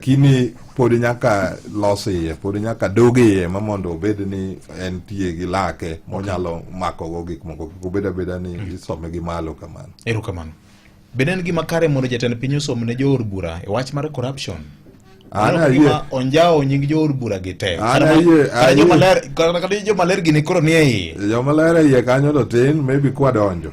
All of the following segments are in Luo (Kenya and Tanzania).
kini podi nyaka los iye podi nyaka dug iye ma mondo obed ni en tiye gi lake monyalo makogo gik moko kik obed abeda ni mm. isome gi malo kamano ero kamano bende en gima kare mondo jatend piny osom ne joor bura e wach mar corruption onjawo nying joor bura gi te kata jomaler gini koro ni e iye jomaler e iye kanyo to tin maybe kwadonjo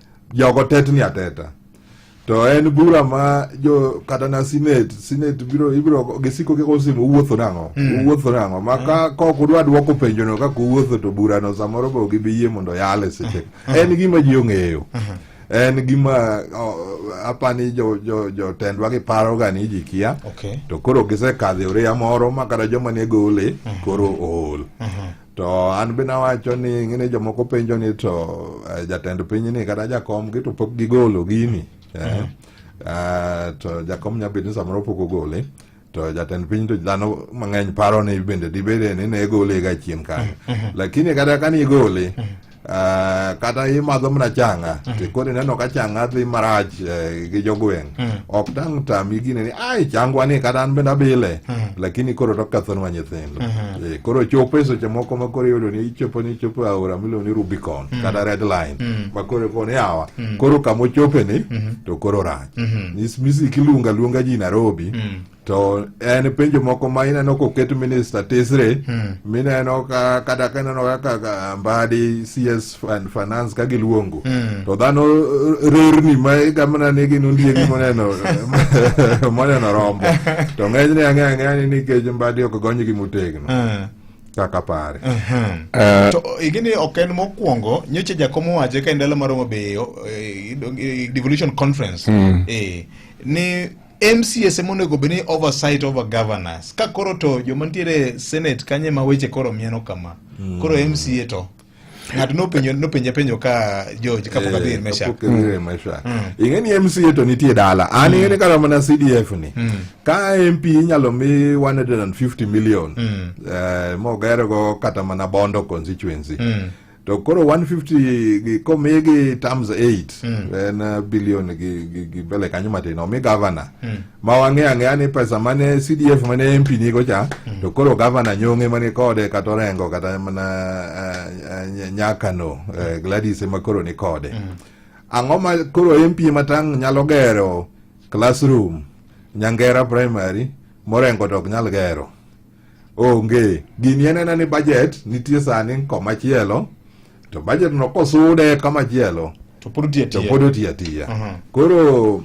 Jogo tetni ateta. To en bura ma jo kata na sinet, sinet biro ibiro gisiko kiko simo uwuotho nang'o, mm. uwuotho nang'o. Ma ka mm. kok udwa dwoko penjo no kaka uwuotho to bura no samoro bo gibiyie mondo yale seche. Mm. En gima ji ong'eyo. Mm-hmm. en gima apani jotendwa giparoga ni ji kia to koro gisekadho oreya moro ma kata joma ne gole mhm. koro ool mhm. to an be nawacho ni ng'e ni jomoko penjo ni to eh, jatend piny ni kata jakomgi to pok gigolo gini eh? mm -hmm. uh, to jakom nya bed ni samoro pok ogole to jatend piny to dhano mang'eny paro ni bende dibede ni ne gole ga chien kanyo mm -hmm. lakini kata kani igole mm -hmm. Uh, kata imadho mana changa mm. tikoni neno ka changa dhi marach uh, gi jogweng mm. ok tang tami gine ni ai changwa ni kata an bende abile mm. lakini koro tokathonwa nyithindo mm -hmm. e, koro chopo e seche moko ma koro iyudo ni ichopo ni ichopo e aora miluongo ni rubicon mm. kata red line mm. ma koro koni yawa mm. koro kamochope ni mm -hmm. to koro rach mm -hmm. misiki luonga luonga ji nairobi mm. to en penjo moko ma ineno koket minista tisri hmm. mineno ka kata ka ineno kaka mbadi cs and finance ka giluongo hmm. to dhano eh, rerni ma igamna ni gin ondiegi moneno moneno rombo to ng'enyne ang'eya ang'eya ni nikech mbadi ok gonygi motegno hmm. kaka pare uh -huh. uh, to igini ok en mokwongo nyocha jakom owache ka e ndalo maromo beyo eh, eh, devolution conference mm. eh, ni MCS ema onego bed ni oversight over governance. Ka koro to joma nitiere Senate kanye ma weche koro mieno kama. Mm. Koro MCA to ng'ato nopenjo nopenje penjo ka George ka pok adhi eh, mesha pok adhi mesha mm. ing'e ni MCA to nitie dala an mm. ing'e ni kata mana CDF ni mm. ka MP inyalo mi 150 million eh, mogero go kata mana Bondo constituency to koro 150 gi komi gi terms 8 mm. en uh, billion gi gi, gi bele kanyo matin omi governor mm. ma wang'e ang'eya ni pesa mane CDF mane MP nigo cha mm. to koro governor nyong'e mane kode kata orengo kata mana uh, uh, nyakano uh, Gladys ema koro ni kode mm. ang'o ma koro MP matang' nyalo gero classroom nyangera primary morengo to ok nyal gero onge gini en ena ni budget nitie sani komachielo to budget no kosude kamachielo to pod otiya to tiya pod otiya tiya Mhm. koro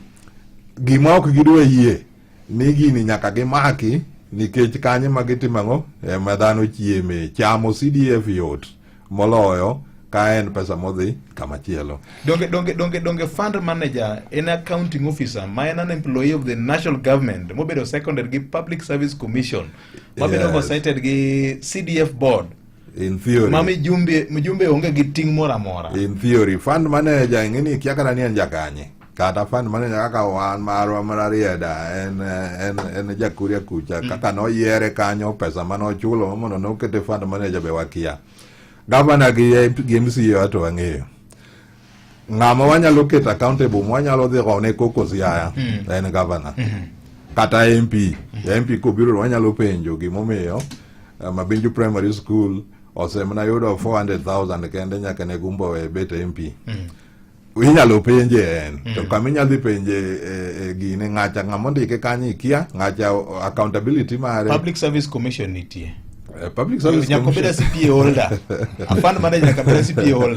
gima ok gidwa yie ni gini nyaka gimaki nikech kanyo ma gitimo ang'o ema dhano chieme chamo cdf yot moloyo ka en pesa modhi kama chielo donge donge donge donge fund manager en accounting officer ma en an employee of the national government mobedo seconded gi public service commission mabedo Yes. oversighted gi cdf board in theory ma mijumbe mijumbe onge gi ting' moro amora in theory fund manager ing'eni kia kata ni en jakanye kata fund manager kaka wan marwa mar Arieda en en en jakuria kucha mm. kaka noyiere kanyo pesa mane ochulo mondo nokete fund manager be wakia gavana gi gi MCA to wang'eyo ng'ama wanyalo keto accountable wanyalo dhi gone koko siaya mm. en gavana mm -hmm. kata MP mm -hmm. MP kobiro wanyalo penjo gimomiyo eh, Mabinju Primary School osemna yudo 400,000 kende nyaka ne gumbo e bet MP mm -hmm. inyalo penje en mm. to kama inyalo dhi penje e, e, gine ng'acha ng'ama ondike kanyo ikia ng'acha accountability mare public service commission nitie eh, public service commission nyaka beda CPA holder afan manager nyaka beda CPA holder